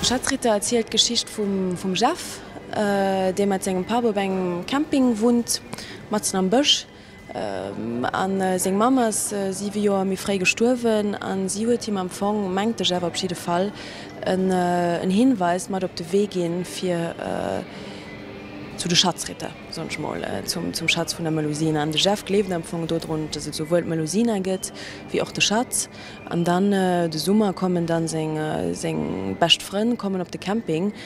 Schatzritter erzielt d'Geschicht vum Jeff, dee mat sengem Papp op engem Camping wunnt, matzen am Bësch. A seng Mamm ass siwe Joer méi fréi gestuerwen a si huet him am Fong, mengt ech awer op jidde Fall, en Hinweis mat op de Wee ginn, fir zu de Schatzritter, soen ech mol, zum Schatz vun der Melusina. An de Jeff gleeft am Fong dodrun, dass et souwuel d'Melusina gëtt wéi och de Schatz. An dann de Summer kommen dann seng bescht Frënn kommen op de Camping.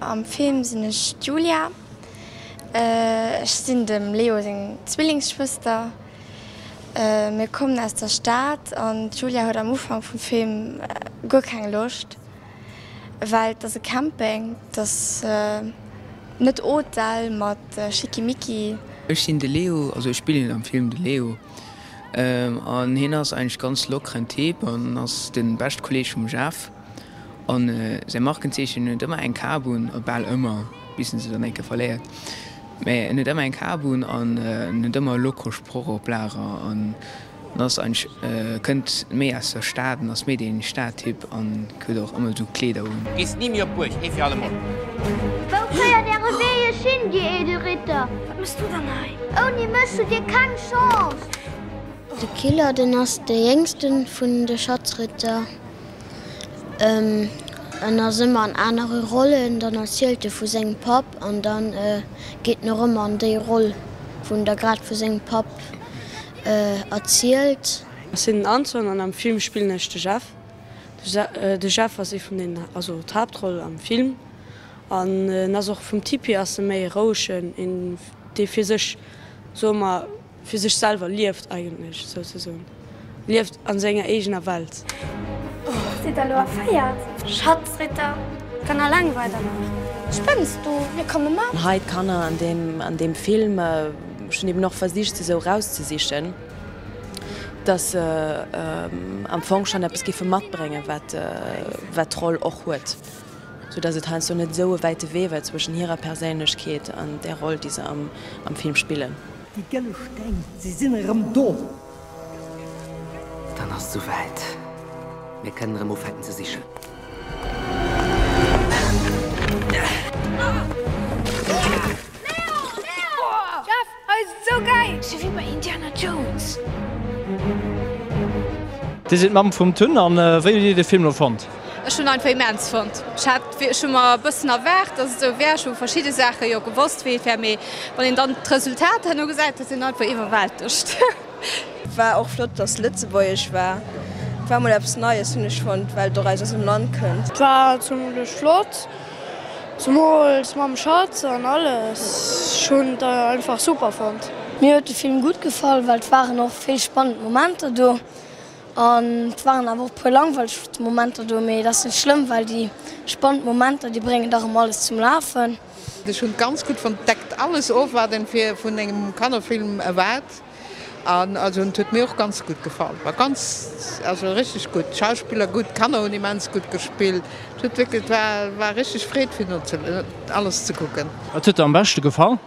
Am Film sinn ech d'Julia. Ech sinn dem Leo seng Zwillingsschwëster. Mir kommen aus der Stad an d'Julia huet am Ufank vum Film guer keng Loscht, well et ass e Camping, et ass net Hotel mat Schickimicki. Ech sinn de Leo, also ech spillen am Film de Leo an hien ass eigentlech ganz lockeren Typ an ass de beschte Kolleeg vum Jeff. An säi Markenzeechen, en huet ëmmer eng Kap un, oder bal ëmmer, bis en se dann eng Kéier verléiert. Mä en huet ëmmer eng Kap un an en huet ëmmer e loko Sproch op Lager. En ass eigentlech, kënnt méi aus der Stad, en ass méi dee Stadtyp an huet och ëmmer esou Kleeder un. Gees ni méi op d'Buerg, ee fir allemol! Wou féiert äre Wee iech hin, dir eedel Ritter? Wat mëss du dann hei? Ouni mech hutt dir keng Chance! De Killer, den ass de jéngsten vun de Schatzritter. En ass ëmmer an anere Rollen, dann erzielt e vu sengem Papp an dann geet en och ëmmer an déi Roll vun der grad vu sengem Papp erzielt. Ech sinn den Antoine an am Film spillen ech de Jeff. De Jeff ass ee vun den, also d'Haaptroll am Film an en ass och vum Typ hier ass e méi e rouegen, een dee fir sech soe mer, Fir sech selwer lieft, eigentlech souzesoen lieft a senger eegener Welt. Sidd der elo erféiert? Schatzritter, d'Kanner langweilt der nach? Spënns du? Mir komme mat. Hei d'Kanner an deem an deem Film. Ech hunn eben och versicht se sou erauszesichen, dass se am Fong schonn eppes géife matbréngen, wat wat d'Roll och huet. Sou dass et heiansdo net esou e wäite Wee war zwëschen hirer Perséinlechkeet an där Roll, déi se am Film spillen. Déi gëlle Steng, se sinn erëm do! Dann ass et sou wäit, mir kënnen erëm ufänken ze sichen. Leo! Leo! Leo! Jeff! Hei ass et sou gäil! Sou wéi bei Indiana Jones! Dir sidd d'Mamm vum Tun an wéi hutt Dir de Film lo fonnt? Ech hunn einfach immens fonnt. Ech hat wéi ech hu mer e bëssen erwaart dass et sou wär. Ech hu verschidde Saache jo gewosst wéi et wär, mee wann een dann d'Resultat herno gesäit, dat ass een einfach iwwerwältegt. War och flott dass lëtzebuergesch war, war mol eppes neies hunn ech fonnt, well doraus aus dem Land kënnt. War zimlech flott, Zemools mam Schatz an alles. Ech hunn et einfach super fonnt. Mir huet de Film gutt gefall, well et waren och vill spannend Momenter do an et waren awer och e puer langweileg Momenter do, mee et ass net schlëmm, well déi spannend Momenter, déi bréngen dach ëmmer alles zum Lafen. Ech hunn et ganz gutt fonnt. Deckt alles of wat een fir vun engem Kannerfilm erwaart. An also en huet mir och ganz gutt gefall, war ganz also richteg gutt, Schauspiller gutt, Kanner hunn immens gutt gespillt, et huet wierklech, et war war richteg Freed fir no ze alles ze kucken. Wat huet der am beschte gefall?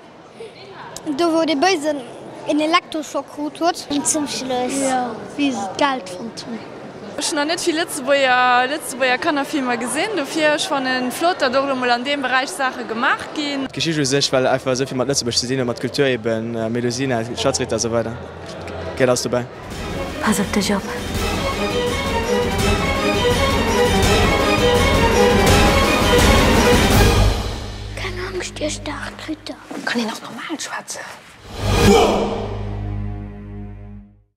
Do wou dee Béisen een Elektroschock krut huet. Zum Schluss, jo, wéi se d'Geld fonnt hunn. Ech hunn nach net vill Lëtzebuerger, Lëtzebuerger Kannerfilmer gesinn, dofir ech fannen et flott, datt och elo mol an deem Beräich Saache gemaach ginn. D'Geschicht u sech, well einfach esou vill mat Lëtzebuerg ze dinn huet, mat Kultur eben, Melusina, Schatzritter a sou weider, gëtt alles dobäi. Pass op dech op! Keng Angscht, Dir staark Ritter! Kann een och normal schwätzen?